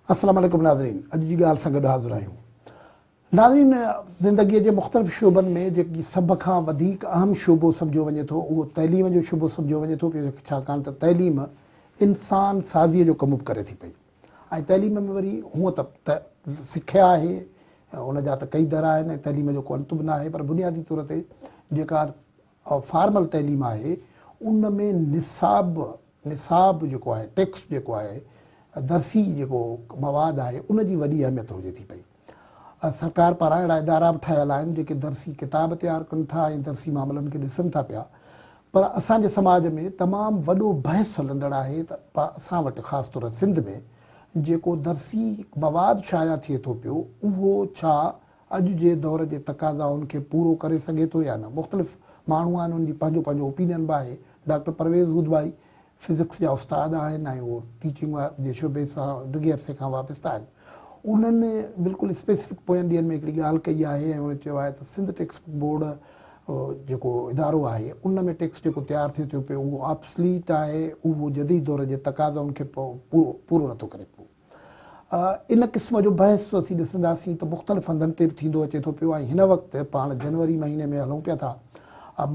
السلام عليڪم ناظرين اڄ جي ڳالهه سان گڏ حاضر آهيون ناظرين! زندگيء جي مختلف شعبن ۾ جيڪي سڀ کان وڌيڪ اهم شعبو سمجهيو وڃي ٿو اهو تعليم جو شعبو سمجهيو وڃي ٿو پيو ڇاڪاڻ ته تعليم انسان سازيء جو ڪم به ڪري ٿي پئي ۽ تعليم ۾ وري هونء ته ته سکيا آهي ان جا ته ڪئي در آهن ۽ تعليم جو ڪو انت به ناهي پر بنيادي طور تي جيڪا ۽ فارمل تعليم آهي ان ۾ نصاب نصاب جيڪو آهي ٽيڪسٽ جيڪو آهي درسي جيڪو مواد آهي ان جي وڏي اهميت هجي ٿي پئي سرڪار پاران اهڙا ادارا به ٺهيل آهن جيڪي درسي ڪتاب تيار ڪن ٿا ۽ درسي معاملن کي ڏسن ٿا پيا پر اسان جي سماج ۾ تمام وڏو بحث هلندڙ آهي ته اسان وٽ خاص طور سنڌ ۾ جيڪو درسي مواد شايع ٿئي ٿو پيو اهو ڇا اڄ جي دور جي تقاضائن کي پورو ڪري سگهي ٿو يا نه؟ مختلف ماڻهو آهن ان جي پنهنجو پنهنجو اوپينين به آهي. ڊاڪٽر پرويز هودڀائي فزڪس جا استاد آهن ۽ اهو ٽيچنگ جي شعبي سان ڊگهي عرصي کان وابسته آهن. انهن بلڪل اسپيسفڪ پوين ڏينهن ۾ هڪڙي ڳالهه ڪئي آهي ۽ انهن چيو آهي ته سنڌ ٽيڪسٽ بڪ بورڊ جيڪو ادارو آهي ان ۾ ٽيڪسٽ جيڪو تيار ٿئي ٿو پيو اهو آبسليٽ آهي اهو جديد دور جي تقاضائن کي پورو نٿو ڪري پيو. ان قسم جو بحث اسين ڏسنداسين ته مختلف هنڌن تي به ٿيندو اچي ٿو پيو ۽ هن وقت پاڻ جنوري مهيني ۾ هلون پيا ٿا.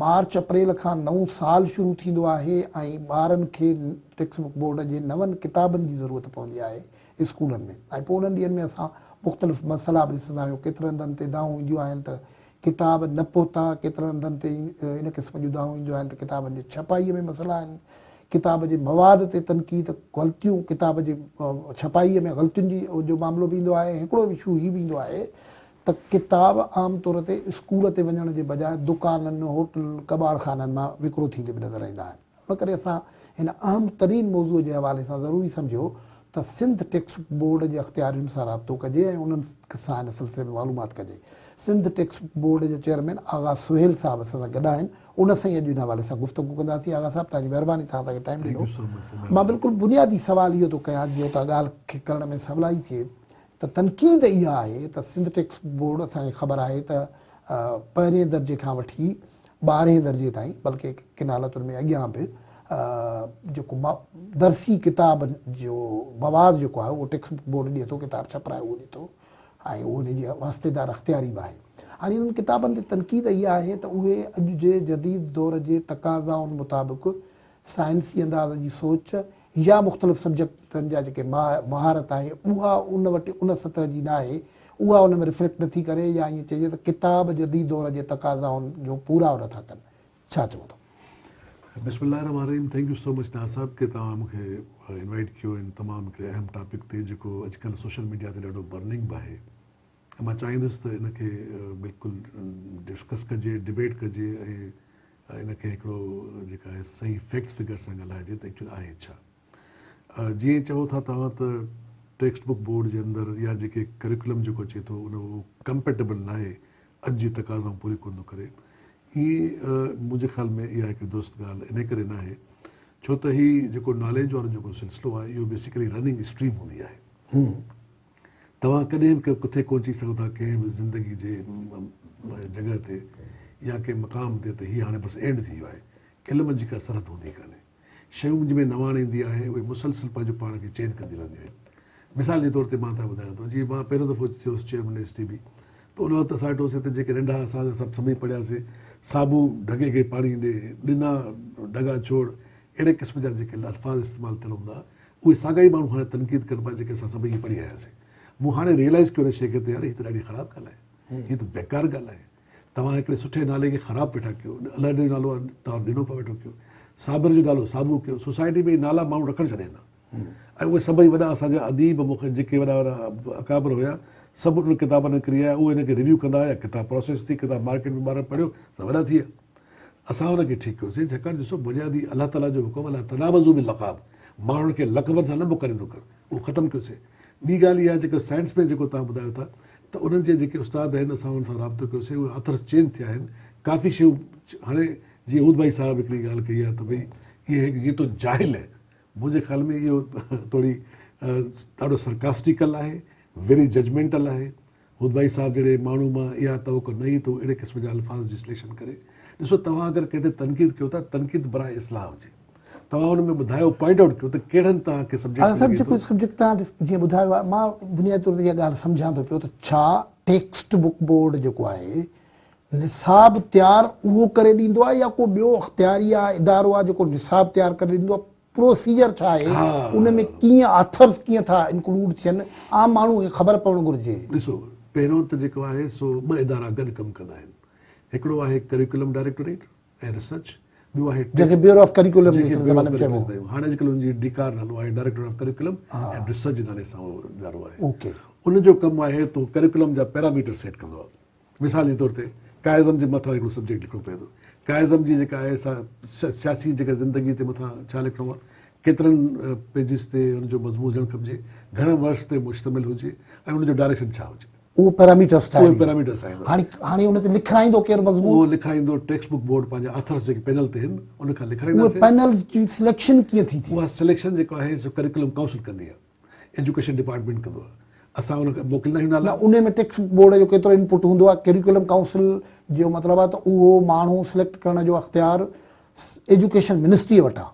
مارچ اپريل کان نئون سال شروع ٿيندو آهي ۽ ٻارن کي ٽيڪسٽ بڪ بورڊ جي نون ڪتابن جي ضرورت پوندي آهي اسڪولن ۾ ۽ پوء انهن ڏينهن ۾ اسان مختلف مسئلا به ڏسندا آهيون ڪيترن هنڌن تي دانهون اينديون آهن ته ڪتاب نه پهتا، ڪيترن هنڌن تي ان قسم جون دانهون اينديون آهن ته ڪتابن جي ڇپائيء ۾ مسئلا آهن، ڪتاب جي مواد تي تنقيد، غلطيون، ڪتاب جي ڇپائيء ۾ غلطين جي جو معاملو به ايندو آهي، هڪڙو اشو هي به ايندو آهي ته ڪتاب عام طور تي اسڪول تي وڃڻ جي بجاء دڪانن، هوٽلن، ڪٻاڙ خانن مان وڪرو ٿيندي به نظر ايندا آهن. ان ڪري اسان هن اهم ترين موضوع جي حوالي سان ضروري سمجهيو ته سنڌ ٽيڪسٽ بڪ بورڊ جي اختيارين سان رابطو ڪجي ۽ انهن سان ان سلسلي ۾ معلومات ڪجي. سنڌ ٽيڪسٽ بڪ بورڊ جي چيئرمين آغا سهيل صاحب اسان سان گڏ آهن، ان سان ئي اڄ ان حوالي سان گفتگو ڪنداسين. آغا صاحب توهان جي مهرباني توهان اسان کي ٽائيم ڏنو. مان بلڪل بنيادي سوال اهو ٿو ڪيان جيئن توهان ڳالهه کي ڪرڻ ۾ سولائي ٿئي ته تنقيد اها آهي ته سنڌ ٽيڪسٽ بڪ بورڊ اسان کي خبر آهي ته پهرين درجي کان وٺي ٻارهين درجي تائين بلڪه ڪن حالتن ۾ اڳيان به جيڪو درسي ڪتاب جو مواد جيڪو آهي اهو ٽيڪسٽ بڪ بورڊ ڏي ٿو ڪتاب ڇپرائي اهو ڏي ٿو ۽ اهو ان جي واسطيدار اختياري به آهي هاڻي انهن ڪتابن تي تنقيد اها آهي ته اهي اڄ جي جديد دور جي تقاضائن مطابق سائنسي انداز جي سوچ يا مختلف سبجيڪٽن جا جيڪي مهارت آهي اها ان وٽ ان سطح جي ناهي اها ان ۾ ريفليڪٽ نٿي ڪري يا ائين چئجي ته ڪتاب جديد دور جي تقاضائن جو پورائو نٿا ڪن ڇا چئو ٿا؟ بسم الله الرحمٰن الرحيم thank you so much Naz صاحب ڪي توهان مون کي انوائيٽ ڪيو ان تمام هڪڙي اهم ٽاپڪ تي جيڪو اڄڪلهه سوشل ميڊيا تي ڏاڍو برننگ به آهي ۽ مان چاهيندس ته ان کي بلڪل ڊسڪس ڪجي، ڊبيٽ ڪجي ۽ ان کي هڪڙو جيڪا آهي صحيح فيڪٽس فگر سان ڳالهائجي ته ايڪچوئل آهي ڇا. جيئن چئو ٿا توهان ته ٽيڪسٽ بوڪ بورڊ جي اندر يا جيڪي ڪريڪولم جيڪو اچي ٿو ان اهو ڪمپيٽيبل ناهي اڄ جي تقاضائون پوريون ڪونه ٿو ڪري. ائين منهنجي خيال ۾ اها هڪڙي درست ڳالهه انهي ڪري ناهي ڇو ته هي جيڪو ناليج وارو جيڪو سلسلو آهي اهو بيسيڪلي رننگ اسٽريم هوندي آهي. توهان ڪڏهن به ڪٿي ڪونه چئي سگهو ٿا ڪنهن به زندگي جي جڳهه تي يا ڪنهن مقام تي ته هي هاڻي بس اينڊ ٿي ويو آهي. علم جي ڪا سرحد هوندي ڪانهي. شيون جنهن ۾ نواڻ ايندي آهي اهي مسلسل پنهنجو پاڻ کي چينج ڪنديون رهنديون آهن. مثال جي طور تي مان تنهن ٻڌايان ٿو جي مان پهريون دفعو ٿيو هوس چيئرمين ايس ٽي بي ته ان وقت اسان وٽ هوسي ته جيڪي ننڍا اسان سڀ سمهي پڙهياسي صابو ڍڳي کي پاڻي ڏي ڏنا ڍڳا ڇوڙ اهڙي قسم جا جيڪي الفاظ استعمال ٿيل هوندا اهي ساڳا ئي ماڻهو هاڻي تنقيد ڪربا جيڪي اسان سڀئي هي پڙهي آياسين مون هاڻي ريئلائز ڪيو ان شيء کي ته يار هي ته ڏاڍي خراب ڳالهه آهي هي ته بيڪار ڳالهه آهي توهان هڪڙي سٺي نالي کي خراب ويٺا ڪيو الهڏ جو نالو توهان ڏنو پيو ويٺو ڪيو صابر جو نالو صابو ڪيو سوسائٽي ۾ هي نالا ماڻهو رکڻ ڇڏين ٿا ۽ اهي سڀئي وڏا اسان جا اديب مون کان جيڪي وڏا وڏا اڪابر هيا سڀ انهن ڪتابن کي ڪري آيا اهي ان کي ريويو ڪندا هيا ڪتاب پروسيس ٿي ڪتاب مارڪيٽ ۾ ٻارن پڙهيو سا وڏا ٿي ويا اسان ان کي ٺيڪ ڪيوسين ڇاڪاڻ ڏسو بنيادي الله تعالي جو حڪم لا تنابزو به لقاب ماڻهن کي لقبن سان نه موڪليندو ڪر اهو ختم ڪيوسين ٻي ڳالهه اها جيڪو سائنس ۾ جيڪو تان ٻڌايو ٿا ته انهن جي جيڪي استاد آهن اسان انهن سان رابطو ڪيوسين اهي اٿرس چينج ٿيا آهن ڪافي شيون هاڻي جيئن اود ڀائي صاحب هڪڙي ڳالهه ڪئي آهي ته ڀئي اهي هڪ جيتو جاهل منهنجي خيال ۾ اهو توڙي ڏاڍو سرڪاسٽيڪل آهي، ويري ججمينٽل آهي. هودڀائي صاحب جهڙي ماڻهو مان اها توقع نه هئي ته هو اهڙي قسم جا الفاظ جي سليڪشن ڪري. ڏسو توهان اگر ڪنهن تي تنقيد ڪيو ٿا، تنقيد برائي اصلاح هجي. توهان ان ۾ ٻڌايو، پوائنٽ آئوٽ ڪيو ته ڪهڙن توهان کي سبجيڪٽس ۾ لڳي ٿو. سبجيڪٽ توهان جيئن ٻڌايو آهي، مان بنيادي طور تي اها ڳالهه سمجهان ٿو پيو ته ڇا ٽيڪسٽ بڪ بورڊ جيڪو آهي، نصاب تيار اهو ڪري ڏيندو آهي يا ڪو ٻيو اختياري آهي ادارو آهي جيڪو نصاب تيار ڪري ڏيندو آهي پروسيجر ڇا آهي ان ۾ ڪيئن آٿرز ڪيئن ٿا انڪلوڊ ٿين عام ماڻهو کي خبر پوڻ گهرجي ڏسو پهريون ته جيڪو آهي سو ٻه ادارا گڏ ڪم ڪندا آهن هڪڙو آهي ڪريڪولم ڊائريڪٽوريٽ ۽ ريسرچ ٻيو آهي جنهن کي بيورو آف ڪريڪولم جي زماني ۾ چئبو هو هاڻي اڄ ڪلهه ان جي ڊيڪار نالو آهي ڊائريڪٽوريٽ آف ڪريڪولم ۽ ريسرچ جي نالي سان اهو ادارو آهي ان جو ڪم آهي تو ڪريڪولم جا پيرامیٽر سيٽ ڪندو آهي مثال جي طور تي ڪائزم جي مٿان هڪڙو سبجيڪٽ لکڻو پوي ٿو. ڪائزم جي جيڪا آهي سا سياسي جيڪا زندگي تي مٿان ڇا لکڻو آهي، ڪيترن پيجز تي ان جو مضمون هجڻ کپجي، گهڻن ورڊز تي مشتمل هجي ۽ ان جو ڊائريڪشن ڇا هجي. اهي پيراميٽرز ٺاهي ڏيندو. هاڻي ان تي لکرائيندو ڪير مضمون؟ اهو لکرائيندو ٽيڪسٽ بڪ بورڊ پنهنجا آٿرز جيڪي پينل تي هن ان کان لکرائينداسين. اهي پينلز جي سليڪشن ڪيئن ٿي ٿئي؟ اها سليڪشن جيڪا آهي سو ڪريڪولم ڪائونسل ڪندي آهي. ايجوڪيشن ڊپارٽمينٽ ڪندو آهي اسان ان کي موڪليندا آهيون نالا. نه انهي ۾ ٽيڪسٽ بورڊ جو ڪيترو ان پٽ هوندو آهي ڪيريڪولم ڪائونسل جو مطلب آهي ته اهو ماڻهو سليڪٽ ڪرڻ جو اختيار ايجوڪيشن منسٽري وٽ آهي.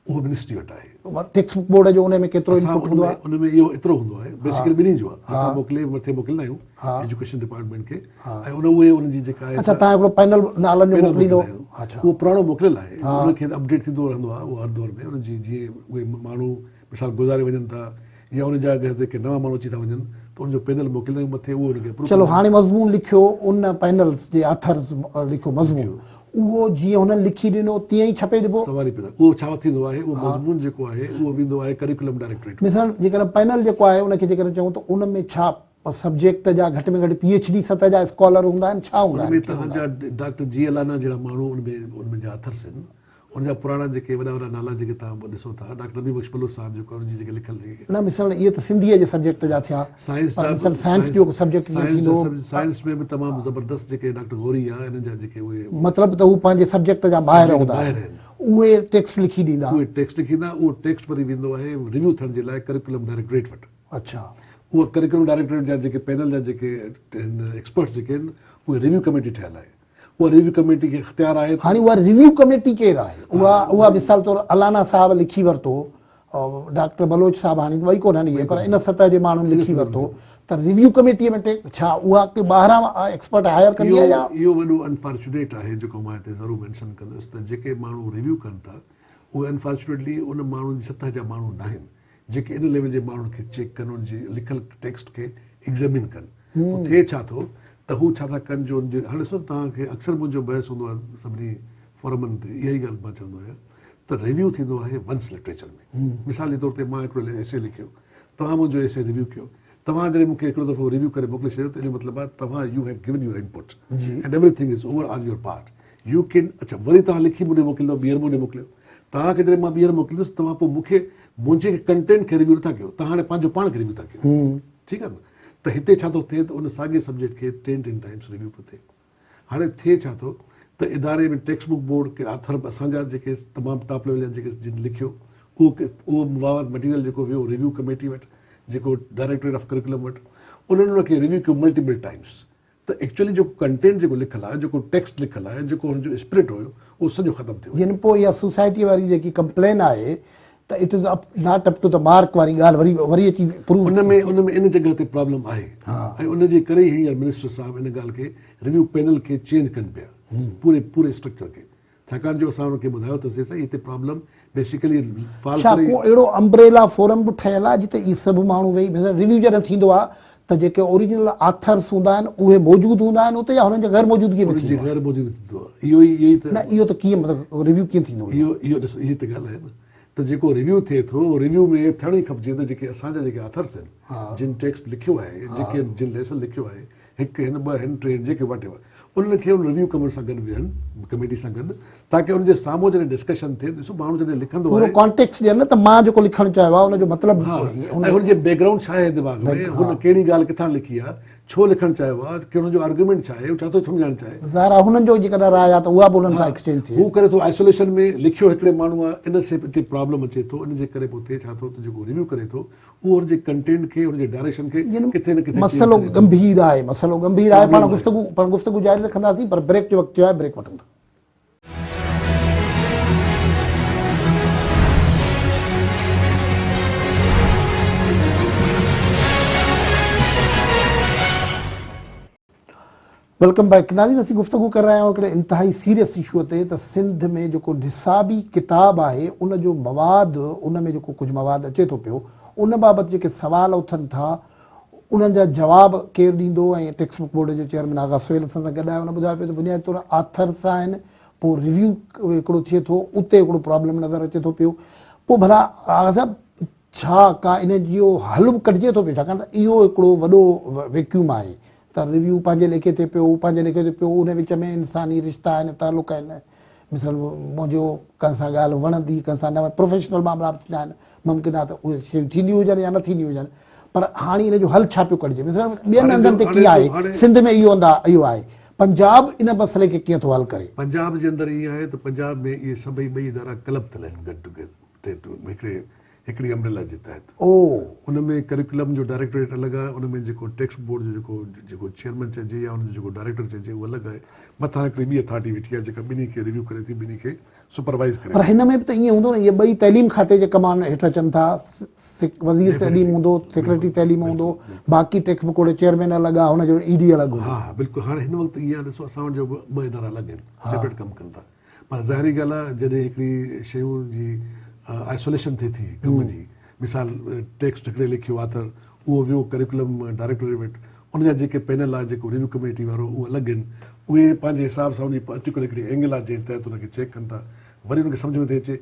اهو منسٽري وٽ آهي. ٽيڪسٽ بوڪ بورڊ جو انهي ۾ ڪيترو ان پٽ هوندو آهي. ان ۾ اهو ايترو هوندو آهي بيسيڪلي ٻنهي جو آهي اسان موڪلي مٿي موڪليندا آهيون ايجوڪيشن ڊپارٽمينٽ کي ۽ ان اهي ان جي جيڪا آهي. اڇا تهان هڪڙو پينل نالن جو موڪليندو. اهو پراڻو موڪليل آهي ان کي اپڊيٽ ٿيندو رهندو آهي اهو هر دور ۾ ان جي جيئن اهي ماڻهو مثال گذاري وڃن ٿا يا ان جاء گهر تي ڪي نوان ماڻهو اچي ٿا وڃن ته ان جو پينل موڪليندا آهيون مٿي اهو ان کي اپروو چلو هاڻي مضمون لکيو ان پينل جي آٿرز لکيو مضمون اهو جيئن هنن لکي ڏنو تيئن ئي ڇپي ڏبو سوال ئي پيدا اهو ڇا ٿيندو آهي اهو مضمون جيڪو آهي اهو ويندو آهي ڪريڪولم ڊائريڪٽوريٽ ۾ مثلا جيڪڏهن پينل جيڪو آهي ان کي جيڪڏهن چئون ته ان ۾ ڇا سبجيڪٽ جا گهٽ ۾ گهٽ پي ايڇ ڊي سطح جا اسڪالر هوندا آهن ڇا هوندا ان آهن ۾ ڪيئن هوندا توهان آهن جا ڊاڪٽر جي الانا جهڙا ماڻهو ان ۾ ان ۾ جا آٿرز آهن هن جا پراڻا جيڪي وڏا وڏا نالا جيڪي توهان ڏسو ٿا ڊاڪٽر نبي بخش بلوچ صاحب جيڪو ان جي جيڪي لکيل جيڪي. نه مثلاً اهي ته سنڌيء جي سبجيڪٽ جا ٿيا سائنس پر جا مثلاً به سائنس جو سائنس سبجيڪٽ جيئن سائنس ٿيندو. جا سائنس ۾ به تمام زبردست جيڪي ڊاڪٽر غوري آ انهن جا جيڪي اهي مطلب ته هو پنهنجي سبجيڪٽ جا ماهر سبجيڪٽ هوندا ماهر آهن. آهن اهي ٽيڪسٽ لکي ڏيندا. اهي ٽيڪسٽ لکي ڏيندا اهو ٽيڪسٽ وري ويندو آهي ريويو ٿيڻ جي لاء ڪريڪولم ڊائريڪٽوريٽ وٽ. اڇا. اهو ڪريڪولم ڊائريڪٽوريٽ جا جيڪي پينل جا جيڪي هن ايڪسپرٽس جيڪي آهن اهي ريويو ڪميٽي ٺهيل آهي. اها ريويو ڪميٽي کي اختيار آهي ته. هاڻي اها ريويو ڪميٽي ڪير آهي؟ اها اها مثال طور الانا صاحب لکي ورتو، ڊاڪٽر بلوچ صاحب هاڻي ٻئي ڪونهن اهي پر ان سطح جي ماڻهن لکي ورتو ته ريويو ڪميٽي ۾ ٽيڪ ڇا اها ڪي ٻاهران ايڪسپرٽ هائير ڪندي آهي يا. اهو وڏو انفارچونيٽ آهي جيڪو مان هتي ضرور مينشن ڪندس ته جيڪي ماڻهو ريويو ڪن ٿا اهي انفارچونيٽلي ان ماڻهن جي سطح جا ماڻهو ناهن. جيڪي ان ليول جي ماڻهن کي چيڪ ڪن ان جي لکيل ٽيڪسٽ کي ايگزيمين ڪن ته ٿئي ڇا ٿو ته هو ڇا ٿا ڪن جو ان جي هاڻي ڏسو توهان کي اڪثر منهنجو بحث هوندو آهي سڀني فورمن تي اها ئي ڳالهه مان چوندو آهيان ته ريويو ٿيندو آهي ونس لٽريچر ۾ مثال جي طور تي مان هڪڙو ايسي لکيو توهان منهنجو ايسي ريويو ڪيو توهان جڏهن مون کي هڪڙو دفعو ريويو ڪري موڪلي ڇڏيو ته ان جو مطلب آهي توهان you have given your input and everything is over on your part you can اڇا وري توهان لکي مون ڏي موڪليندؤ ٻيهر مون ڏي موڪليو توهان کي جڏهن مان ٻيهر موڪليندس توهان پوء مون کي منهنجي کي ڪنٽينٽ کي ريويو نٿا ڪيو توهان هاڻي پنهنجو پاڻ کي ريويو ٿا ڪيو ٺيڪ آهي نه ته هتي ڇا ٿو ٿئي ته ان ساڳي سبجيڪٽ کي ٽين ٽين ٽائمس ريويو پيو ٿئي هاڻي ٿئي ڇا ٿو ته اداري ۾ ٽيڪسٽ بڪ بورڊ ڪي آٿر به اسان جا جيڪي تمام ٽاپ ليول جا جيڪي جن لکيو اهو اهو مواد مٽيريل جيڪو ويو ريويو ڪميٽي وٽ جيڪو ڊائريڪٽوريٽ آف ڪريڪولم وٽ انهن ان کي ريويو ڪيو ملٽيپل ٽائمس ته ايڪچولي جيڪو ڪنٽينٽ جيڪو لکيل آهي، جيڪو ٽيڪسٽ لکيل آهي، جيڪو ان جو اسپرٽ هيو، اهو سڄو ختم ٿيو. جنپو يا سوسائٽي واري جيڪي ڪمپلين آهي ته it is up not up to ته مارڪ واري ڳالهه وري وري اچي پروف ٿي ٿي. ان ۾ ان جڳهه تي پرابلم آهي ۽ ان جي ڪري ئي هينئر منسٽر صاحب ان ڳالهه کي ريويو پينل کي چينج ڪن پيا پوري پوري اسٽرڪچر کي ڇاڪاڻ جو اسان هن کي ٻڌايو ته سي سائين هتي پرابلم بيسيڪلي فال ڇا ڪو اهڙو امبريلا فورم به ٺهيل آهي جتي اهي سڀ ماڻهو ويهي مثلا ريويو جڏهن ٿيندو آهي ته جيڪي اوريجنل آٿرس هوندا آهن اهي موجود هوندا آهن اتي يا هنن جي غير موجودگي ۾ ٿيندو غير موجود ٿيندو آهي اهو ئي اهو ئي ته نه اهو ته ڪيئن مطلب ريويو ڪيئن ٿيندو اهو اهو ڏسو اهي ته ڳالهه آهي نه ته جيڪو ريويو ٿئي ٿو اهو ريويو ۾ ٿيڻ ئي کپجي ته جيڪي اسان جا جيڪي آٿرس آهن جن ٽيڪسٽ لکيو آهي جيڪي جن ليسن لکيو آهي هڪ هن ٻه هن ٽي هن جيڪي واٽ ايور انهن کي ان ريويو ڪميٽ سان گڏ ويهن ڪميٽي سان گڏ تاڪه ان جي سامهون جڏهن ڊسڪشن ٿئي ڏسو ماڻهو جڏهن لکندو آهي پورو ڪانٽيڪس ڏين نه ته مان جيڪو لکڻ چاهيو آهي ان جو مطلب ها ۽ هن جي بيڪگرائونڊ ڇا آهي دماغ ۾ هن ڪهڙي ڳالهه ڪٿان لکي آهي ڇو لکڻ چاهيو آهي ڪي هن جو آرگيومينٽ ڇا آهي هو ڇا ٿو سمجهائڻ چاهي ظاهر آهي هنن جو جيڪڏهن راء آهي ته اها به انهن سان ايڪسچينج ٿئي هو ڪري ٿو آئسوليشن ۾ لکيو هڪڙي ماڻهو آهي ان سي هتي پرابلم اچي ٿو ان جي ڪري به هتي ڇا ٿو ته جيڪو ريويو ڪري ٿو هو ان جي ڪنٽينٽ کي، ان جي ڊائريڪشن کي ڪٿي نه ڪٿي چينج ڪري ٿو. مسئلو ڳنڀير آهي، مسئلو ڳنڀير آهي، پاڻ گفتگو، پاڻ گفتگو جاري رکنداسين پر بريڪ جو وقت ٿيو آهي، بريڪ وٺون ٿا. ويلڪم بيڪ ناظرين اسين گفتگو ڪري رهيا آهيون هڪڙي انتهائي سيريس اشوء تي ته سنڌ ۾ جيڪو نصابي ڪتاب آهي ان جو مواد ان ۾ جيڪو ڪجهه مواد اچي ٿو پيو ان بابت جيڪي سوال اٿن ٿا انهن جا جواب ڪير ڏيندو ۽ ٽيڪسٽ بڪ بورڊ جو چيئرمين آغا سهيل اسان سان گڏ آهي ان ٻڌايو پيو ته بنيادي طور آٿرس آهن پوء ريويو هڪڙو ٿئي ٿو اتي هڪڙو پرابلم نظر اچي ٿو پيو پوء ڀلا آغا صاحب ڇا ڪا ان جو حل به ڪڍجي ٿو پيو ڇاڪاڻ ته اهو هڪڙو وڏو ويڪيوم آهي ته ريويو پنهنجي ليکي تي پيو پنهنجي ليکي تي پيو ان وچ ۾ انساني رشتا آهن تعلق آهن مثلاً منهنجو ڪنهن سان ڳالهه وڻندي ڪنهن سان نه وڻندي پروفيشنل معاملا به ٿيندا آهن ممڪن آهي ته اهي شيون ٿينديون هجن يا نه ٿينديون هجن پر هاڻي ان جو حل ڇا پيو ڪڍجي مثلاً ٻين هنڌن تي ڪيئن آهي سنڌ ۾ اهو هنڌ اهو آهي پنجاب ان مسئلي کي ڪيئن ٿو حل ڪري. پنجاب جي اندر ائين آهي ته پنجاب ۾ اهي سڀئي ٻئي ادارا ڪلب ٿيل آهن گڏ ٽوگيدر هڪڙي هڪڙي امبريلا جي تحت ان ۾ ڪريڪولم جو ڊائريڪٽوريٽ الڳ آهي ان ۾ جيڪو ٽيڪسٽ بورڊ جو جيڪو جيڪو چيئرمين چئجي يا ان جو جيڪو ڊائريڪٽر چئجي اهو الڳ آهي مٿان هڪڙي ٻي اٿارٽي ويٺي آهي جيڪا ٻنهي کي ريويو ڪري ٿي ٻنهي کي سپروائيز ڪري ٿي. پر هن ۾ به ته ائين هوندو نه اهي ٻئي تعليم کاتي جي ڪمان هيٺ اچن ٿا وزير تعليم هوندو سيڪريٽري تعليم هوندو باقي ٽيڪسٽ بورڊ جو چيئرمين الڳ آهي هن جو اي ڊي الڳ هوندو. ها ها بلڪل هاڻي هن وقت ائين آهي ڏسو اسان وٽ جو ٻه ادارا الڳ آهن سيپريٽ ڪم ڪن ٿا. پر ظاهري ڳالهه آهي جڏهن هڪڙي شيون جي آئسوليشن ٿئي ٿي ڪم جي مثال ٽيڪسٽ هڪڙي لکيو آٿر اهو ويو ڪريڪولم ڊائريڪٽوري وٽ ان جا جيڪي پينل آهي جيڪو ريويو ڪميٽي وارو اهو الڳ آهن اهي پنهنجي حساب سان ان جي پرٽيڪولر هڪڙي اينگل آهي جنهن تحت ان کي چيڪ ڪن ٿا وري ان کي سمجهه نٿي اچي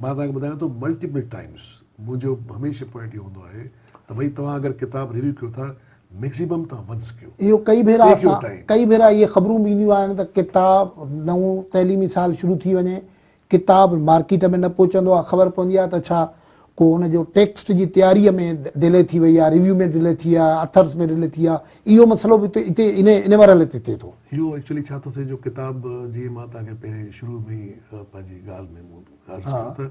مان توهان کي ٻڌايان ٿو ملٽيپل ٽائيمس منهنجو هميشه پوائنٽ اهو هوندو آهي ته ڀئي توهان اگر ڪتاب ريويو ڪيو ٿا ميڪسيمم توهان ونس ڪيو اهو ڪئي ڀيرا اسان ڪئي ڀيرا اهي خبرون به اينديون آهن ته ڪتاب نئون تعليمي سال شروع ٿي وڃي ڪتاب مارڪيٽ ۾ نه پهچندو آهي خبر پوندي آهي ته ڇا ڪو ان جو ٽيڪسٽ جي تياريء ۾ ڊلي ٿي وئي آهي ريويو ۾ ڊلي ٿي آهي اٿرس ۾ ڊلي ٿي آهي اهو مسئلو به هتي ان ان مرحلي تي ٿئي ٿو اهو ايڪچولي ڇا ٿو ٿئي جو ڪتاب جيئن مان توهان کي پهرين شروع ۾ ئي پنهنجي ڳالهه ۾ مون عرض ڪيو ته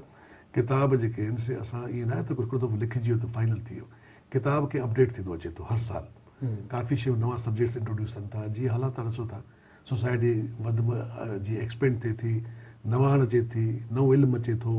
ڪتاب جيڪي آهن سي اسان ايئن ناهي ته هڪڙو دفعو لکجي ويو ته فائنل ٿي ويو ڪتاب کي اپڊيٽ ٿيندو اچي ٿو هر سال ڪافي شيون نوان سبجيڪٽس انٽروڊيوس ٿين ٿا جيئن حالات تهان ڏسو ٿا سوسائٽي وڌ م جيئن ايڪسپينڊ ٿئي ٿي نواڻ اچي ٿي نئون علم اچي ٿو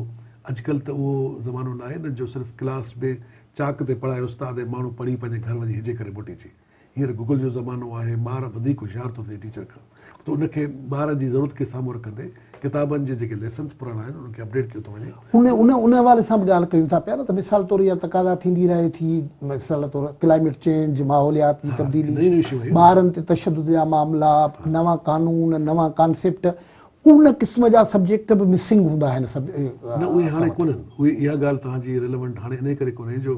اڄڪلهه ته اهو زمانو ناهي نه جو صرف ڪلاس ۾ چاڪ تي پڙهائي استاد ۽ ماڻهو پڙهي پنهنجي گهر وڃي هجي ڪري موٽي اچي هينئر گوگل جو زمانو آهي، ٻار وڌيڪ هوشيار ٿو ٿئي ٽيچر کان ته ان کي ٻار جي ضرورت کي سامهون رکندي ڪتابن جي جيڪي ليسنس پراڻا آهن انهن کي اپڊيٽ ڪيو ٿو وڃي. ان ان ان حوالي سان به ڳالهه ڪيون ٿا پيا نه ته مثال طور اها تقاضا ٿيندي رهي ٿي مثال طور ڪلائميٽ چينج ماحوليات جي تبديلي ٻارن تي تشدد جا معاملا نوان قانون نوان ڪانسيپٽ ان قسم جا سبجيڪٽ به مسنگ هوندا آهن نه اهي هاڻي ڪونهن اها ڳالهه توهان جي ريليونٽ هاڻي انهي ڪري ڪونهي جو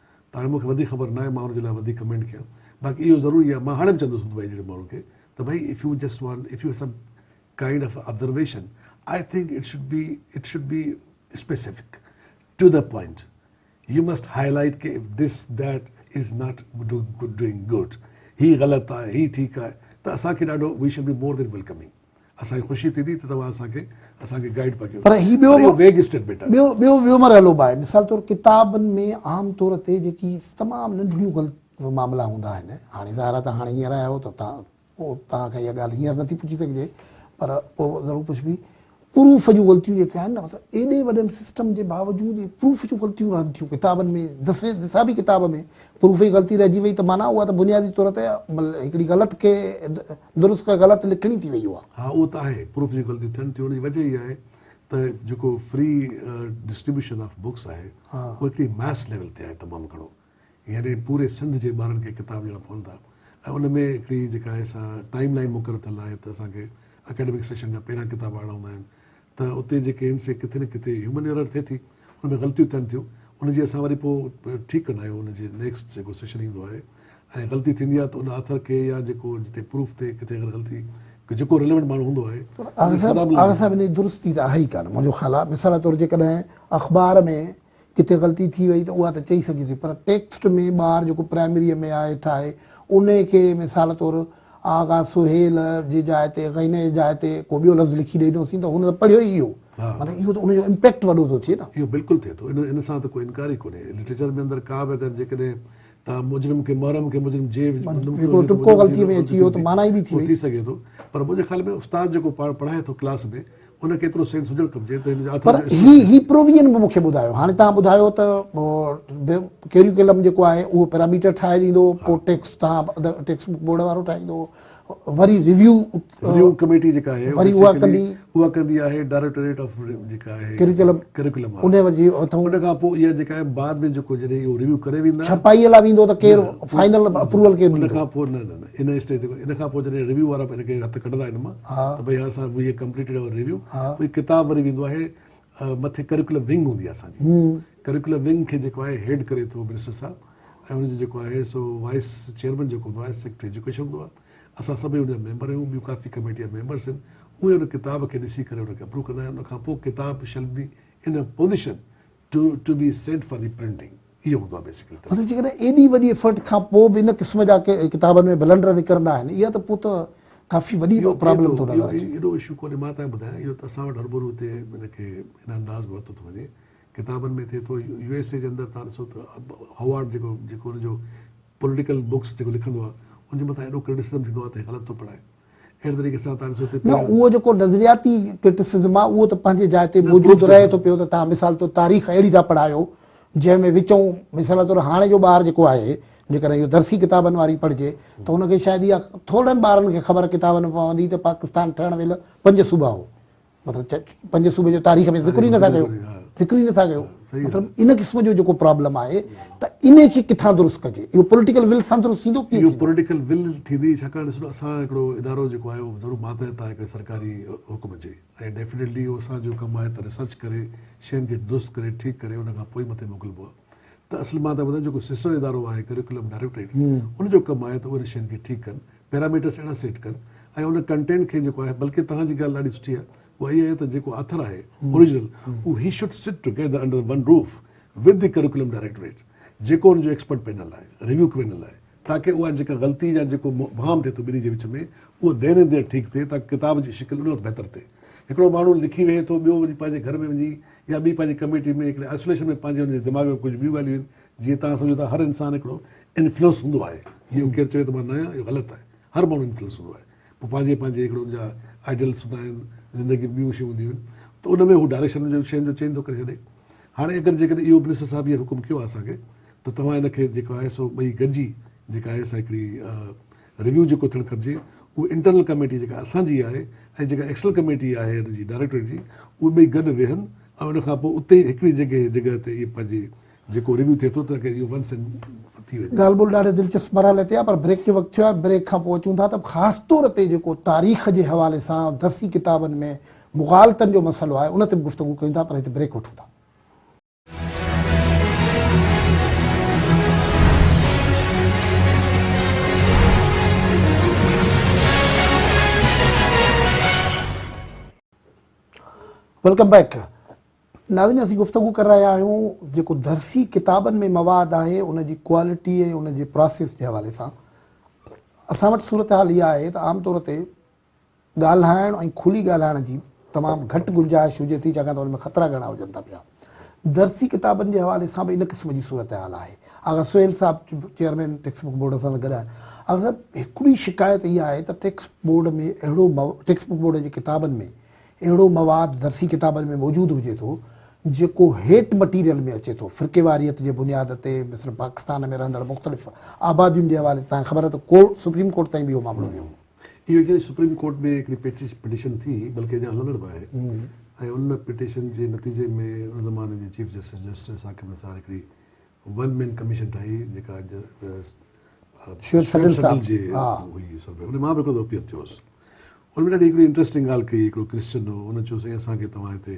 ته هاڻي مون کي وڌيڪ خبر ناهي مان ان جي لاء وڌيڪ ڪمينٽ ڪيان باقي اهو ضرور آهي مان هاڻي به چوندس دبئي جهڙي ماڻهو کي ته ڀائي if you just want if you some kind of observation I think it should be it should be specific to the point you must highlight ڪي if this that is not doing good هي غلط آهي هي ٺيڪ آهي ته اسان کي ڏاڍو we should be more then welcoming اسان کي خوشي ٿي ٿي ته توهان اسان کي اسان کي گائيڊ پيا ڪيو. پر هي ٻيو ٻيو ويگ اسٽيٽمينٽ آهي. ٻيو ٻيو ٻيو مرحلو به آهي. مثال طور ڪتابن ۾ عام طور تي جيڪي تمام ننڍڙيون غلط معاملا هوندا آهن. هاڻي ظاهر آهي ته هاڻي هينئر آيا آهيو ته تان پوء توهان کان اها ڳالهه هينئر نٿي پڇي سگهجي پر پوء ضرور پڇبي. پروف جون غلطيون جيڪي آهن نه مطلب ايڏي وڏن سسٽم جي باوجود پروف جون غلطيون رهن ٿيون ڪتابن ۾ دسي دسابي ڪتاب ۾. پروف ئي غلطي رهجي وئي ته معنيٰ اها ته بنيادي طور تي هڪڙي غلط کي درست ڪري غلط لکڻي ٿي وئي اها. ها اهو ته آهي پروف جي غلطي ٿين ٿيون ان جي وجه اها آهي ته جيڪو فري ڊسٽريبيوشن آف بڪس آهي اهو هڪڙي ماس ليول تي آهي تمام گهڻو يعني پوري سنڌ جي ٻارن کي ڪتاب ڏيڻا پون ٿا ۽ ان ۾ هڪڙي جيڪا آهي سا ٽائيم لائين مقرر ٿيل آهي ته اسان کي اڪيڊمڪ سيشن جا پهريان ڪتاب آڻڻا هوندا آهن ته اتي جيڪي هن سي ڪٿي نه ڪٿي هيومن ايرر ٿئي ٿي ان ۾ غلطيون ٿين ٿيون ان جي اسان وري پوء ٺيڪ ڪندا آهيون ان جي نيڪسٽ جيڪو سيشن ايندو آهي ۽ غلطي ٿيندي آهي ته ان آٿر کي يا جيڪو جتي پروف ٿئي ڪٿي اگر غلطي ڪي جيڪو ريليونٽ ماڻهو هوندو آهي آغا صاحب آغا صاحب ان جي درستي ته آهي ئي ڪانه منهنجو خيال آهي مثال طور جيڪڏهن اخبار ۾ ڪٿي غلطي ٿي وئي ته اها ته چئي سگهجي ٿي پر ٽيڪسٽ ۾ ٻار جيڪو پرائمريء ۾ آهي هيٺ آهي انهي کي مثال طور آغا سهيل جي جاء تي غينه جي جاء تي ڪو ٻيو لفظ لکي ڏئي ڏنوسين ته هن ته پڙهيو ئي اهو معنيٰ اهو ته ان جو امپيڪٽ وڏو ٿو ٿئي نه. اهو بلڪل ٿئي ٿو ان سان ته ڪو انڪار ئي ڪونهي لٽريچر ۾ اندر ڪا به اگر جيڪڏهن توهان مجرم کي محرم کي مجرم جي هڪڙو ٽپڪو غلطي ۾ اچي ويو ته معنيٰ ئي ٻي ٿي وئي. ٿي سگهي ٿو پر منهنجي خيال ۾ استاد جيڪو پاڻ پڙهائي ٿو ڪلاس ۾ ان کي ايترو سينس هجڻ کپجي ته هن جا اٿر جو اسپيشل پر هي پرووين به مون کي ٻڌايو هاڻي تان ٻڌايو ته ڪيريوڪلم جيڪو آهي اهو پيراميٽر ٺاهي ڏيندو پو ٽيڪس تان ٽيڪس بڪ بورڊ وارو ٺاهيندو وري ريويو ريويو ڪميٽي جيڪا آهي وري اها ڪندي اها ڪندي آهي ڊائريڪٽوريٽ آف جيڪا آهي ڪيريوڪلم ڪيريوڪلم ان وري اٿو ان کان پو اها جيڪا آهي بعد ۾ جيڪو جڏهن اهو ريويو ڪري ويندا ڇپائي لا ويندو ته ڪير فائنل اپروول ڪير ڏيندو ان کان پو نه نه ان اسٽيج تي ان کان پو جڏهن ريويو وارا ان کي هٿ ڪڍندا ان مان ته ڀئي هاڻي اسان we have completed our review هي ڪتاب وري ويندو آهي مٿي ڪريڪولم ونگ هوندي آهي اسان جي ڪريڪولم ونگ کي جيڪو آهي هيڊ ڪري ٿو منسٽر صاحب ۽ ان جو جيڪو آهي سو وائيس چيئرمين جيڪو هوندو آهي سيڪريٽري ايجوڪيشن هوندو آهي اسان سڀئي ان جا ميمبر آهيون ٻيون ڪافي ڪميٽي جا ميمبرس آهن اهي ان ڪتاب کي ڏسي ڪري ان کي اپروو ڪندا آهن ان کان پوء ڪتاب shall be in position to to be sent for the printing اهو هوندو آهي بيسڪلي ته. مطلب جيڪڏهن ايڏي وڏي افرٽ کان پوء به ان قسم جا ڪتابن ۾ بلنڊر نڪرندا آهن اها ته پوء ته ڪافي وڏي پرابلم ٿو نظر اچي. اهو ايڏو اشو ڪونهي مان تنهن ٻڌايان اهو ته اسان وٽ هرڀرو هتي ان کي ان انداز ۾ ورتو ٿو وڃي ڪتابن ۾ ٿئي ٿو يو ايس اي جي اندر تان ڏسو ته هوارڊ جيڪو جيڪو ان جو پوليٽيڪل بوڪس جيڪو لکندو آهي ان جي مٿان ايڏو ڪرٽيسزم ٿيندو آهي ته هي غلط ٿو پڙهائي اهڙي طريقي سان تان ڏسو ته نه اهو جيڪو نظرياتي ڪرٽسزم آهي اهو ته پنهنجي جاء تي موجود رهي ٿو پيو ته تان مثال طور تاريخ اهڙي ٿا پڙهايو جنهن ۾ وچئون مثال طور هاڻي جو ٻار جيڪو آهي جيڪڏهن اهو درسي ڪتابن واري پڙهجي ته ان کي شايد اها ٿورڙن ٻارن کي خبر ڪتابن ۾ پوندي ته پاڪستان ٺهڻ ويل پنج صوبا هو مطلب پنهنجي صوبي جو تاريخ ۾ ذڪر ئي نٿا ڪيو ذڪر ئي نٿا ڪيو مطلب ان قسم جو جيڪو پرابلم آهي ته ان کي کٿان درست ڪجي اهو پوليٽيڪل ول سان درست ٿيندو ڪيئن ٿيندو پوليٽيڪل ول ٿيندي ڇاڪاڻ ڏسو اسان هڪڙو ادارو جيڪو آهي اهو ضرور ماتحت آهي هڪڙي سرڪاري حڪم جي ۽ ڊيفينيٽلي اهو اسان جو ڪم آهي ته ريسرچ ڪري شين کي درست ڪري ٺيڪ ڪري ان کان پوء ئي مٿي موڪلبو آهي ته اصل مان ته ٻڌان جيڪو سسٽر ادارو آهي ڪريڪولم ڊائريڪٽريٽ ان جو ڪم آهي ته ان شين کي ٺيڪ ڪن پيراميٽرس اهڙا سيٽ ڪن ۽ ان ڪنٽينٽ کي جيڪو آهي بلڪه توهان جي ڳالهه ڏاڍي سٺي آهي اها اهي آهي ته جيڪو آٿر آهي اوريجنل اهو هي should sit together under one roof with the curriculum directorate جيڪو ان جو ايڪسپرٽ پينل آهي ريويو پينل آهي تاڪه اها جيڪا غلطي يا جيڪو مبهام ٿئي ٿو ٻنهي جي وچ ۾ اهو دين اينڊ ديئر ٺيڪ ٿئي تاڪه ڪتاب جي شڪل ان وقت بهتر ٿئي هڪڙو ماڻهو لکي ويهي ٿو ٻيو وڃي پنهنجي گهر ۾ وڃي يا ٻي پنهنجي ڪميٽي ۾ هڪڙي آئسوليشن ۾ پنهنجي هن جي دماغ ۾ ڪجهه ٻيون ڳالهيون آهن جيئن توهان سمجهو ٿا هر انسان هڪڙو انفلوئنس هوندو آهي جيئن ڪير چوي ته مان نه آهيان اهو غلط آهي هر ماڻهو انفلوئنس هوندو آهي پوء پنهنجي پنهنجي هڪڙو ان جا آئيڊيلس هوندا آهن زندگي ۾ ٻيون شيون هونديون آهن ته ان ۾ هو ڊائريڪشن جو شين جو چينج ٿو ڪري ڇڏي هاڻي اگر جيڪڏهن اهو منسٽر صاحب هيئر حڪم ڪيو آهي اسان کي ته توهان ان کي جيڪو آهي سو ٻئي گڏجي جيڪا آهي سا هڪڙي ريويو جيڪو ٿيڻ کپجي اهو انٽرنل ڪميٽي جيڪا اسان جي آهي ۽ جيڪا ايڪسٽرنل ڪميٽي آهي هن جي ڊائريڪٽوريٽ جي اهي ٻئي گڏ ويهن ۽ ان کان پوء اتي هڪڙي جڳهه جڳهه تي اهي پنهنجي جيڪو ريويو ٿئي ٿو ته ڪري اهو ونس اينڊ ٿي وڃي. ڳالهه ٻولهه ڏاڍي دلچسپ مرحلي تي آهي پر بريڪ جو وقت ٿيو آهي بريڪ کان پوء اچون ٿا ته خاص طور تي جيڪو تاريخ جي حوالي سان درسي ڪتابن ۾ مغالطن جو مسئلو آهي ان تي به گفتگو ڪيون ٿا پر هتي بريڪ وٺون ٿا. ويلڪم بيڪ ناظرين اسين گفتگو ڪري رهيا آهيون جيڪو درسي ڪتابن ۾ مواد آهي ان جي ڪوالٽي ۽ ان جي پراسيس جي حوالي سان اسان وٽ صورتحال اها آهي ته عام طور تي ڳالهائڻ ۽ کلي ڳالهائڻ جي تمام گهٽ گنجائش هجي ٿي ڇاڪاڻ ته ان ۾ خطرا گهڻا هجن ٿا پيا. درسي ڪتابن جي حوالي سان به ان قسم جي صورتحال آهي. آغا سهيل صاحب چيئرمين ٽيڪسٽ بڪ بورڊ سان گڏ آهن. آغا صاحب هڪڙي شڪايت اها آهي ته ٽيڪسٽ بورڊ ۾ اهڙو ٽيڪسٽ بڪ بورڊ جي ڪتابن ۾ اهڙو مواد درسي ڪتابن ۾ موجود هجي ٿو جيڪو هيٽ مٽيريل ۾ اچي ٿو فرقيواريت جي بنياد تي مثلاً پاڪستان ۾ رهندڙ مختلف آبادين جي حوالي سان تهان کي خبر آهي ته ڪورٽ سپريم ڪورٽ تائين به اهو معاملو ويو هو. اهو جنهن سپريم ڪورٽ ۾ هڪڙي پٽيشن ٿي بلڪه اڃا هلندڙ به آهي ۽ ان پٽيشن جي نتيجي ۾ ان زماني جي chief justice justice Aqib Nisar هڪڙي ون مين ڪميشن ٺاهي جيڪا شعيب سڏل صاحب جي هئي اصل ۾ ان مان به هڪڙو دفعو اپيل ٿيو هوس ان ۾ ڏاڍي هڪڙي انٽريسٽنگ ڳالهه ڪئي هڪڙو ڪرسچن هو ان چيو سائين اسان کي توهان هتي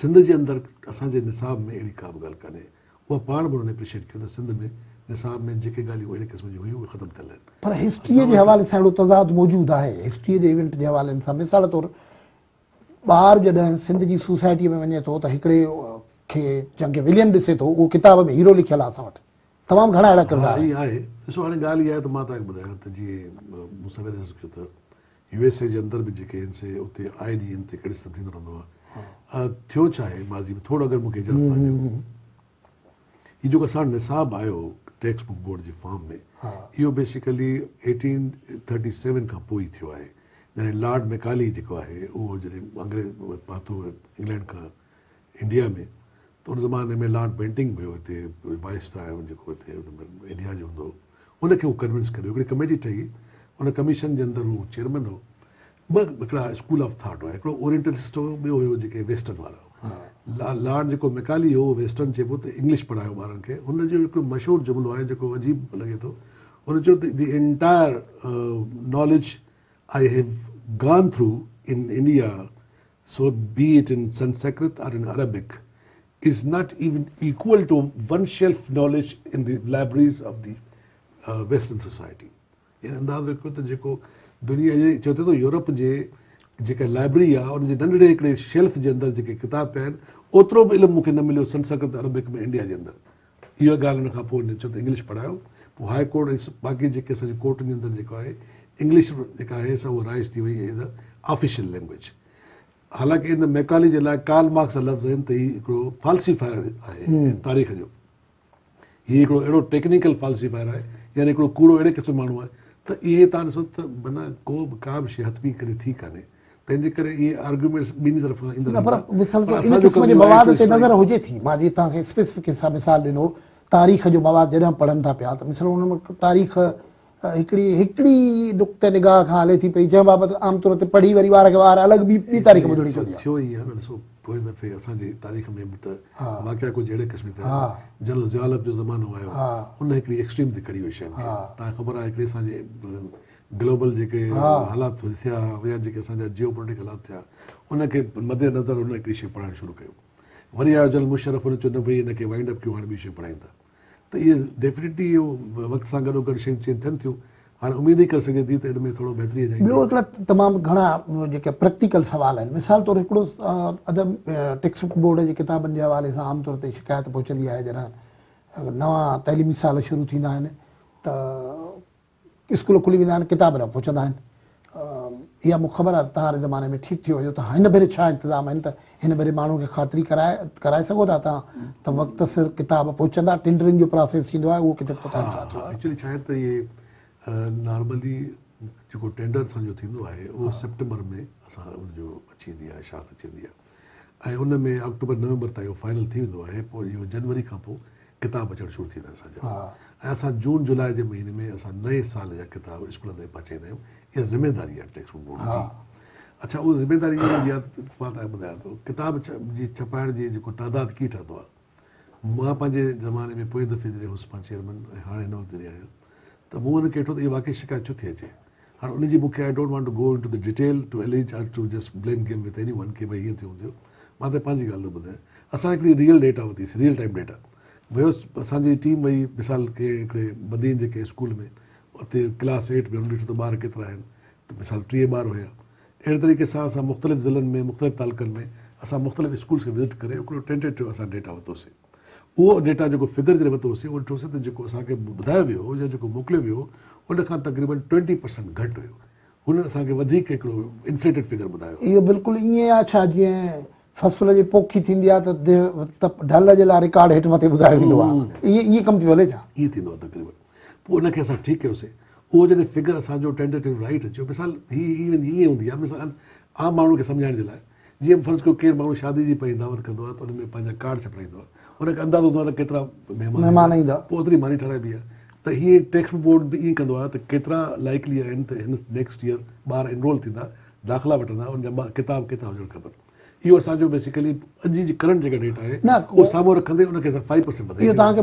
سنڌ جي اندر اسان جي نصاب ۾ اهڙي ڪابه ڳالهه ڪانهي. اها پاڻ به انهن اپريشيٽ ڪيو ته سنڌ ۾ نصاب ۾ جيڪي ڳالهيون اهڙي قسم جون هيون اهي ختم ٿيل آهن. پر هسٽريء جي حوالي سان اهڙو تضاد موجود آهي. هسٽريء جي ايونٽ جي حوالي سان مثال طور ٻار جڏهن سنڌ جي سوسائٽيء ۾ وڃي ٿو ته هڪڙي کي جنهن کي وليم ڏسي ٿو اهو ڪتاب ۾ هيرو لکيل آهي اسان وٽ تمام گهڻا اهڙا ڪردار آهن. ها اهي آهي ڏسو هاڻي ڳالهه اها آهي ته مان توهان کي ٻڌايان ته جيئن مون سوير عرض ڪيو ته يو ايس اي جي اندر به جيڪي آهن سي اتي آئي ڏينهن ان تي ڪڙس ته ٿيندو رهندو آهي ٿيو ڇا آهي ماضي ۾ ٿورو اگر مون کي اجازت سان ڏيو هي جيڪو اسان وٽ نصاب آيو ٽيڪسٽ بڪ بورڊ جي فارم ۾ اهو بيسيڪلي ايٽين ٿرٽي سيون کان پوء ئي ٿيو آهي جڏهن لارڊ ميڪالي جيڪو آهي اهو جڏهن انگريز پاتو انگلينڊ کان انڊيا ۾ ته ان زماني ۾ لارڊ بينٽنگ به هو هتي وائسراء هو جيڪو هتي انڊيا جو هوندو هو ان کي هو ڪنوينس ڪريو هڪڙي ڪميٽي ٺهي ان ڪميشن جي اندر هو چيئرمين هو ٻه هڪڙا اسڪول آف ٿاٽ هئا هڪڙو اورينٽلسٽ هو ٻيو هيو جيڪي ويسٽرن وارا هئا لارڊ جيڪو ميڪالي هو ويسٽرن چئبو ته انگلش پڙهايو ٻارن کي هن جو هڪڙو مشهور جملو آهي جيڪو عجيب لڳي ٿو هن چيو ته the entire knowledge I have gone through in India so be it in Sanskrit or in Arabic is not even equal to one shelf knowledge in the libraries of the western society يعني اندازو ڪيو ته جيڪو دنيا جي چوٿي ٿو Europe جي جيڪا لائبرري آهي ان جي ننڍڙي هڪڙي شيلف جي اندر جيڪي ڪتاب پيا آهن اوترو به علم مون کي نه مليو سنسڪرت عربڪ ۾ انڊيا جي اندر اها ڳالهه ان کان پوء هن چيو ته انگلش پڙهايو پوء هاء ڪورٽ ۽ باقي جيڪي اسان جي ڪورٽن جي اندر جيڪو آهي انگلش جيڪا آهي سا اها رائج ٿي وئي ايز اي آفيشل لينگويج حالانڪه ان ميڪالي جي لاء ڪارل مارڪس جا لفظ آهن ته هي هڪڙو فالسيفائر آهي تاريخ جو هي هڪڙو اهڙو ٽيڪنيڪل فالسيفائر آهي يعني هڪڙو ڪوڙو اهڙي قسم ماڻهو آهي ته اهي تان ڏسو ته معنيٰ ڪو به ڪا به شي هٿ ڪري ٿي ڪانهي تنهنجي ڪري اهي آرگيومينٽس ٻنهي طرفان ايندڙ نه پر وصل جو ان قسم جي مواد تي نظر هجي ٿي مان جي توهان کي اسپيسفڪ حصا مثال ڏنو تاريخ جو مواد جڏهن پڙهن ٿا پيا ته مثلا ان ۾ تاريخ هڪڙي هڪڙي نقطه نگاهه کان هلي ٿي پئي جنهن بابت عام طور تي پڙهي وري وار کي وار الڳ ٻي ٻي تاريخ ٻڌڻي پوندي آهي ٿيو هي نه ڏسو پوء دفعي اسان جي تاريخ ۾ به ته واقعا ڪجهه اهڙي قسم ٿيا آهن جنرل ضياء الحق جو زمانو آيو ان هڪڙي ايڪسٽريم تي کڙي هئي شين کي تان خبر آهي هڪڙي اسان جي گلوبل جيڪي حالات ٿيا يا جيڪي اسان جا جيو پوليٽڪ حالات ٿيا ان کي مد نظر هن هڪڙي شيء پڙهائڻ شروع ڪيو وري آيو جل مشرف هن چيو نه ڀئي هن کي وائنڊ اپ ڪيو هاڻي ٻي شيء پڙهائيندا ته اهي ڊيفنيٽلي اهو وقت سان گڏو گڏ شيون چينج ٿين ٿيون هاڻي اميد ئي ڪري سگهجي ٿي ته ان ۾ ٿورو بهتري اچي ٻيو هڪڙا تمام گهڻا جيڪي پريڪٽيڪل سوال آهن مثال طور هڪڙو ادب ٽيڪسٽ بڪ بورڊ جي ڪتابن جي حوالي سان عام طور تي شڪايت پهچندي آهي جڏهن نوان تعليمي سال شروع ٿيندا آهن ته اسڪول کلي ويندا آهن، ڪتاب نه پهچندا آهن. اها مون کي خبر آهي ته توهان واري زماني ۾ ٺيڪ ٿيو هجو ته هن ڀيري ڇا انتظام آهن ته هن ڀيري ماڻهن کي خاطري ڪرائي سگهو ٿا توهان ته وقت سر ڪتاب پهچندا، ٽينڊرنگ جو پراسيس ٿيندو آهي اهو ڪٿي پهتو آهي ڇا ٿيو آهي. ايڪچولي ڇا آهي ته اهي نارملي جيڪو ٽينڊر اسان جو ٿيندو آهي اهو سيپٽمبر ۾ اسان ان جو اچي ويندي آهي اشاعت اچي ويندي آهي. ۽ ان ۾ آڪٽوبر نومبر تائين اهو فائنل ٿي ويندو آهي پوء اهو جنوري کان پوء ڪتاب اچڻ شروع ٿيندا اسان جا ۽ اسان جون جولاء جي مهيني ۾ اسان نئين سال جا ڪتاب اسڪولن تائين پهچائيندا آهيون اها ذميواري آهي ٽيڪسٽ بڪ بورڊ جي اڇا اها ذميواري ڪتاب ڇپائڻ جي جيڪو تعداد ڪي ٺهندو آهي. مان پنهنجي زماني ۾ پوئين دفعي جڏهن هوس پان چيئرمن ۽ هاڻي هن وقت جڏهن آهيان ته مون ان کي ڏٺو ته اها واقعي شڪايت ڇو ٿي اچي. هاڻ ان جي مون کي I don't want to go into the detail to allege or to just blame game with anyone ڪي ڀاء هيئن ٿيو هون ٿيو. مان ته پنهنجي ڳالهه ٿو ٻڌايان. اسان هڪڙي ريئل ڊيٽا وتي سي ريئل ٽائيم ڊيٽا ويوس اسان جي ٽيم وئي مثال ڪنهن هڪڙي بدين جي ڪنهن اسڪول ۾ اتي ڪلاس ايٽ ۾ هن ڏٺو ته ٻار ڪيترا آهن ته مثال ٽيهه ٻار هيا اهڙي طريقي سان اسان مختلف ضلعن ۾ مختلف تعلقن ۾ اسان مختلف اسڪولز کي وزٽ ڪري هڪڙو ٽينٽيٽو اسان ڊيٽا ورتوسين اهو ڊيٽا جيڪو فگر جڏهن ورتوسين اهو ڏٺوسين ته جيڪو اسان کي ٻڌايو ويو هو يا جيڪو موڪليو ويو هو ان کان تقريبن ٽوئنٽي پرسنٽ گهٽ هيو هنن اسان کي وڌيڪ هڪڙو انفليٽيڊ فگر ٻڌايو اهو بلڪل ائين آهي ڇا جيئن فصل جي پوکي ٿيندي آهي ته ڍل جي لاء رڪارڊ هيٺ مٿي ٻڌايو ويندو آهي ائين ڪم ٿيو هلي ڇا؟ ائين ٿيندو آهي تقريبن پوء ان کي اسان ٺيڪ ڪيوسين. اهو جڏهن فگر اسان جو ٽينٽيٽو رائيٽ اچيو مثال هي هي ويندي ائين هوندي آهي مثال عام ماڻهو کي سمجهائڻ جي لاء جيئن فرض ڪيو ڪير ماڻهو شادي جي پنهنجي دعوت ڪندو آهي ته ان ۾ پنهنجا ڪارڊ ڇپرائيندو آهي ان کي اندازو هوندو آهي ته ڪيترا مهمان ايندا پوء اوتري ماني ٺهرائبي آهي ته هيئن ٽيڪسٽ بورڊ به ائين ڪندو آهي ته ڪيترا لائيڪلي آهن ته هن نيڪسٽ ييئر ٻار انرول ٿيندا داخلا وٺندا ان جا ڪتاب ڪيترا هجڻ کپن اهو اسان جو بيسيڪلي اڄ جي ڪرنٽ جيڪا ڊيٽا آهي اهو سامهون رکندي ان کي اسان فائيو پرسينٽ وڌائي اهو توهان کي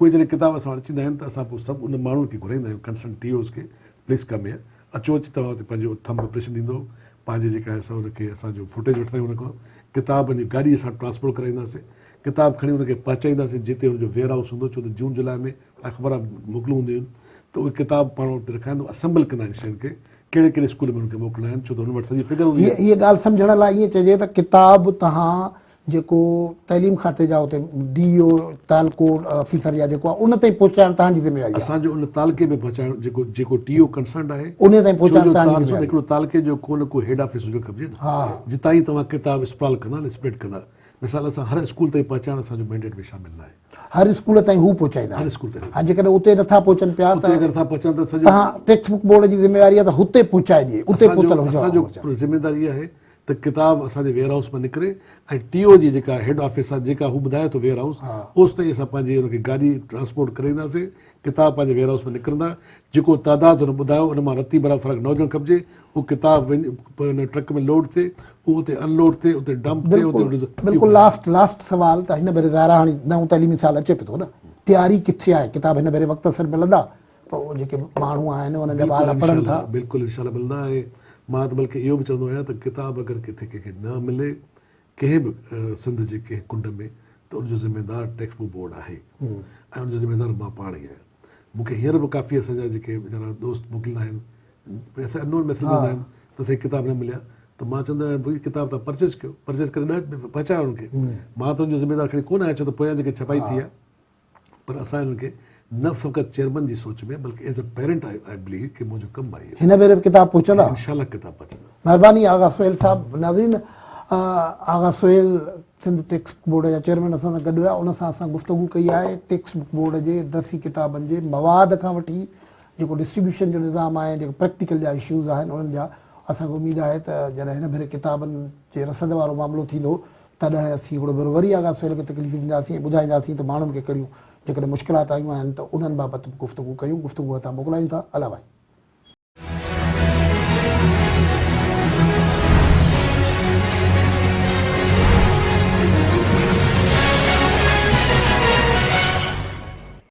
اهي جڏهن ڪتاب اسان وٽ اچيندا آهن ته اسان پوء سڀ ان ماڻهوء کي گهرائيندا آهيون ڪنسرن ٽي اوز کي پليز ڪم هيئر اچو اچي توهان اتي پنهنجو ٿم امپريشن ڏيندو پنهنجي جيڪا آهي سا ان کي اسان جو فوٽيج وٺندا آهيون ان کان ڪتاب پنهنجي گاڏي اسان ٽرانسپورٽ ڪرائينداسين ڪتاب کڻي ان کي پهچائينداسين جتي ان جو ويئر هائوس هوندو ڇو ته جون جولاء ۾ اخبار موڪلون هونديون آهن ته اهي ڪتاب پاڻ اتي رکائيندو اسيمبل ڪندا آهن شين کي ڪهڙي ڪهڙي اسڪول ۾ ان کي موڪلڻا آهن ڇو ته هن وٽ سڄي فگر هوندي آهي هيء ڳالهه سمجهڻ لاء ائين چئجي ته ڪتاب توهان جيڪو تعليم کاتي جا اتي ڊي او تعلقو آفيسر يا جيڪو آهي ان تائين پهچائڻ توهان جي ذميواري آهي اسان جو ان تعلقي ۾ پهچائڻ جيڪو جيڪو ٽي او ڪنسرنڊ آهي انهي تائين ڇو پهچائڻ جو توهان جي تارسون ذميواري هڪڙو تعلقي جو ڪو نه ڪو هيڊ آفيس هجڻ کپجي نه ها جتان هي توهان ڪتاب اسپرال ڪندا نه اسپريڊ ڪندا مثال اسان هر اسڪول تائين پهچائڻ اسان جو مينڊيٽ ۾ شامل ناهي هر اسڪول تائين هو پهچائيندا هر آهن اسڪول تائين ها جيڪڏهن اتي نٿا پهچن پيا ته اتي اگر ٿا پهچن ته سڄو توهان ٽيڪسٽ بڪ بورڊ جي ذميواري آهي ته هتي پهچائجي اتي اسان جو پهتل هجڻ اسان جو گهرجن ذميواري اها آهي ته ڪتاب اسان جي ويئر هائوس مان نڪري ۽ ٽي او جي جيڪا هيڊ آفيس آهي جيڪا هو ٻڌائي ٿو ويئر هائوس اوستائين اسان پنهنجي ان کي گاڏي ٽرانسپورٽ ڪري اينداسين ڪتاب پنهنجي ويئر هائوس مان نڪرندا جيڪو تعداد هن ٻڌايو ان مان رتي برابر فرق نه هجڻ کپجي اهو ڪتاب وڃي ٽرڪ ۾ لوڊ ٿئي اهو اتي ان لوڊ ٿئي اتي ڊمپ ٿئي اتي بلڪل لاسٽ لاسٽ سوال ته هن ڀيري ظاهر آهي هاڻي نئون تعليمي سال اچي پيو ٿو نه تياري ڪٿي آهي ڪتاب هن ڀيري وقت سر ملندا پوء جيڪي ماڻهو آهن انهن جا ٻار لپڙن ٿا. بلڪل ان شاء الله ملندا ۽ مان ته بلڪه اهو به چوندو آهيان ته ڪتاب اگر ڪٿي ڪنهن کي نه ملي ڪنهن به سنڌ جي ڪنهن ڪنڊ ۾ ته ان جو ذميوار ٽيڪسٽ بوڪ بورڊ آهي ۽ ان جو ذميوار مان پاڻ ئي آهيان مون کي هينئر به ڪافي اسان جا جيڪي ويچارا دوست موڪليندا آهن ويسي انون ميسيج وجهندا آهن ته سائين ڪتاب نه مليا ته مان چوندو آهيان ڀئي ڪتاب تان پرچيز ڪيو پرچيز ڪري ڏهه پهچايو انهن کي مان ته ان جو ذميوار کڻي ڪونه آهيان ڇو ته پويان جيڪي ڇپائي ٿي آهي پر اسان انهن کي نه فقط چيئرمن جي سوچ ۾ بلڪه as a parent I I believe ڪي منهنجو ڪم آهي اهو. هن ڀيري به ڪتاب پهچندا. انشاء الله ڪتاب پهچندا. مهرباني آغا سهيل صاحب ناظرين Agha Sohail Sindh text book board جا چيئرمين اسان سان گڏ هيا ان سان اسان گفتگو ڪئي آهي ٽيڪسٽ بڪ بورڊ جي درسي ڪتابن جي مواد کان وٺي جيڪو ڊسٽريبيوشن جو نظام آهي جيڪو پريڪٽيڪل جا اشوز آهن انهن جا اسان کي اميد آهي ته جڏهن هن ڀيري ڪتابن جي رسد وارو معاملو ٿيندو تڏهن اسين هڪڙو ڀيرو وري آغا سهيل کي تڪليف ڏينداسين ۽ ٻڌائينداسين ته ماڻهن کي ڪهڙيون جيڪڏهن مشڪلات آيون آهن ته انهن بابت به گفتگو ڪيون گفتگو هتان موڪلايون ٿا الله ڀائي.